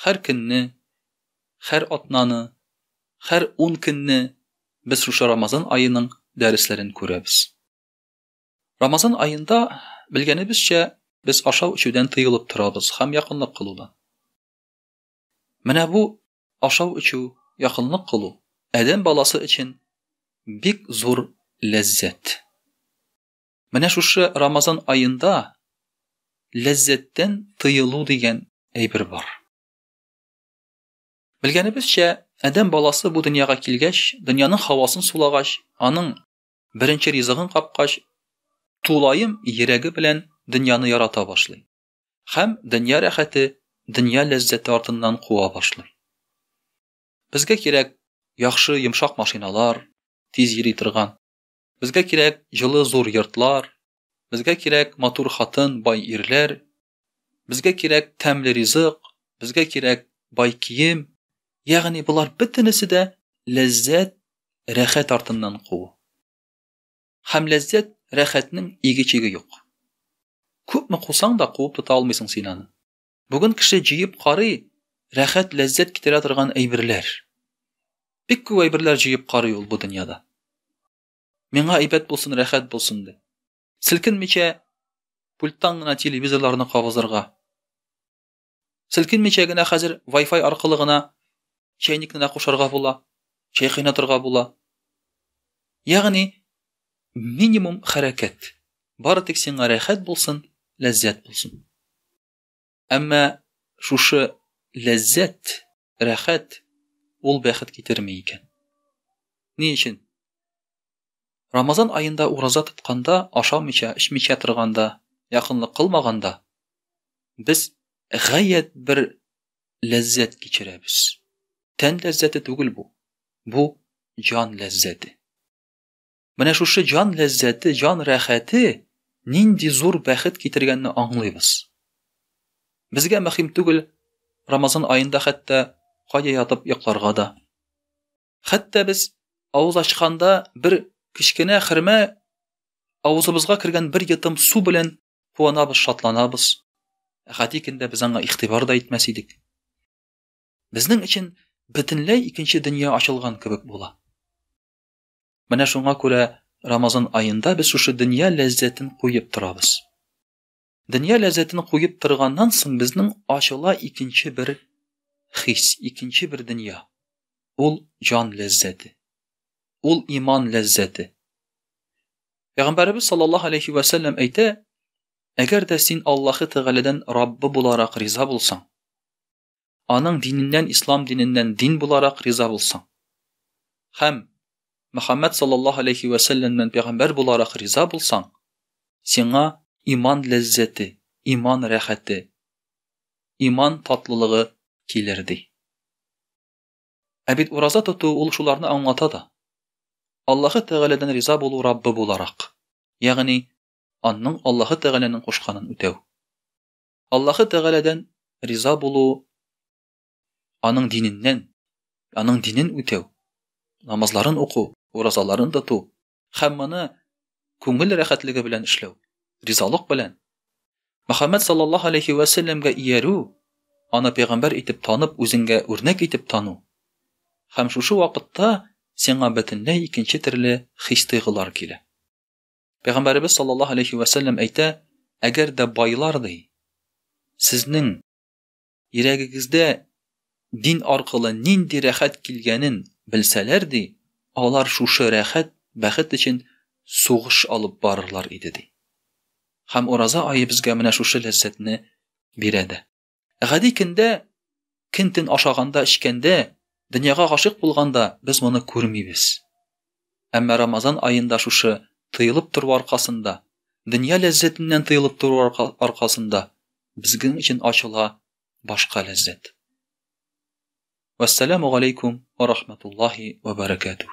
Хәр көнне, хәр атнаны, хәр ун көнне без шушы Рамазан аеның дәресләрен күрәбез. Рамазан аенда, белгәнебезчә, без ашау-эчүдән тыелып торабыз һәм якынлык кылудан. Менә бу ашау-эчү, якынлык кылу адәм баласы өчен бик зур ләззәт. Менә шушы Рамазан аенда ләззәттән тыелу дигән әйбер бар. Белгәнебезчә, Адәм баласы бу дөньяга килгәч, дөньяның хавасын сулагач, аның беренче ризыгын капкач, тулаем йөрәге белән дөньяны ярата башлый. Хәм дөнья рәхәте, дөнья ләззәте артыннан куа башлый. Безгә кирәк яхшы йомшак машиналар, тиз йөри торган. Безгә кирәк җылы зур йортлар, Безгә кирәк матур хатын, бай ирләр, Безгә кирәк тәмле ризык, Безгә кирәк бай кием. Ягъни болар бөтенесе дә ләззәт, рәхәт артыннан куу. Һәм ләззәт, рәхәтнең иге-чиге юк. Күпме кусаң да куып тота алмыйсың син аны. Бүген кеше җыеп карый, рәхәт, ләззәт китерә торган әйберләр. Бик күп әйберләр җыеп карый ул бу дөньяда. Миңа әйбәт булсын, рәхәт булсын дип. Селкенмичә пульттан гына телевизорларны кабызырга. Селкенмичә генә хәзер Wi-Fi аркылы гына чәйникне дә кушарга була, чәй кайнатырга була. Ягъни Минимум хәрәкәт. Бары тик сиңа рәхәт булсын, ләззәт булсын. Әмма шушы ләззәт, рәхәт, ул бәхет китерми икән. Ни өчен? Рамазан аенда ураза тотканда, ашамыйча, эчмичә торганда, якынлык кылмаганда без гаять бер ләззәт кичерәбез. Тән ләззәте түгел бу. Бу җан ләззәте. Менә шушы җан ләззәте, җан рәхәте нинди зур бәхет китергәнне аңлыйбыз. Безгә мөһим түгел Рамазан аенда хәтта кая ятып йокларга да. Хәтта без авыз ачканда бер кечкенә хөрмә авызыбызга кергән бер йотым су белән куанабыз, шатланабыз. Ә гади көндә без аңа игътибар да итмәс идек. Безнең өчен бөтенләй икенче дөнья ачылган кебек була. Менә шуңа күрә Рамазан аенда без шушы дөнья ләззәтен куеп торабыз. Дөнья ләззәтен куеп торганнан соң безнең ачыла икенче бер хис, икенче бер дөнья. Ул җан ләззәте. Ул иман ләззәте. Пәйгамбәрбез саллаллаһу алейхи ва саллям әйтә, әгәр дә син Аллаһы Тәгаләдән Раббы буларак риза булсаң, аның диненнән ислам диненнән дин буларак риза булсаң һәм Мөхәммәд саллаллаһу алейхи вә сәлләмнән пәйгамбәр буларак риза булсаң, сиңа иман ләззәте, иман рәхәте, иман татлылыгы килер ди. Ә бит ураза тоту ул шуларны аңлата да. Аллаһы Тәгаләдән риза булу Раббы буларак, ягъни анның Аллаһы Тәгаләнең кушканын үтәү. Аллаһы Тәгаләдән риза булу, аның диненнән, аның динен үтәү, намазларын уку, уразаларын тоту һәм моны күңел рәхәтлеге белән эшләү, ризалык белән Мөхәммәд саллаллаһу алейхи вә сәлләмгә иярү, аны пәйгамбәр итеп танып, үзеңгә үрнәк итеп тану. Һәм шушы вакытта сиңа бөтенләй икенче төрле хис-тойгылар килә. Пәйгамбәребез саллаллаһу алейхи вә сәлләм әйтә, әгәр дә байлар ди, сезнең йөрәгегездә дин аркылы нинди рәхәт килгәнен белсәләр ди, алар шушы рәхәт, бәхет өчен сугыш алып барырлар иде ди. Һәм ураза ае безгә менә шушы ләззәтне бирә дә. Гади көндә көн төн ашаганда, эчкәндә, дөньяга гашык булганда без моны күрмибез. Әмма Рамазан аенда шушы тыелып тору аркасында, дөнья ләззәтеннән тыелып тору аркасында безнең өчен ачыла башка ләззәт. Вассаламу алейкум ва рахматуллахи ва баракатух.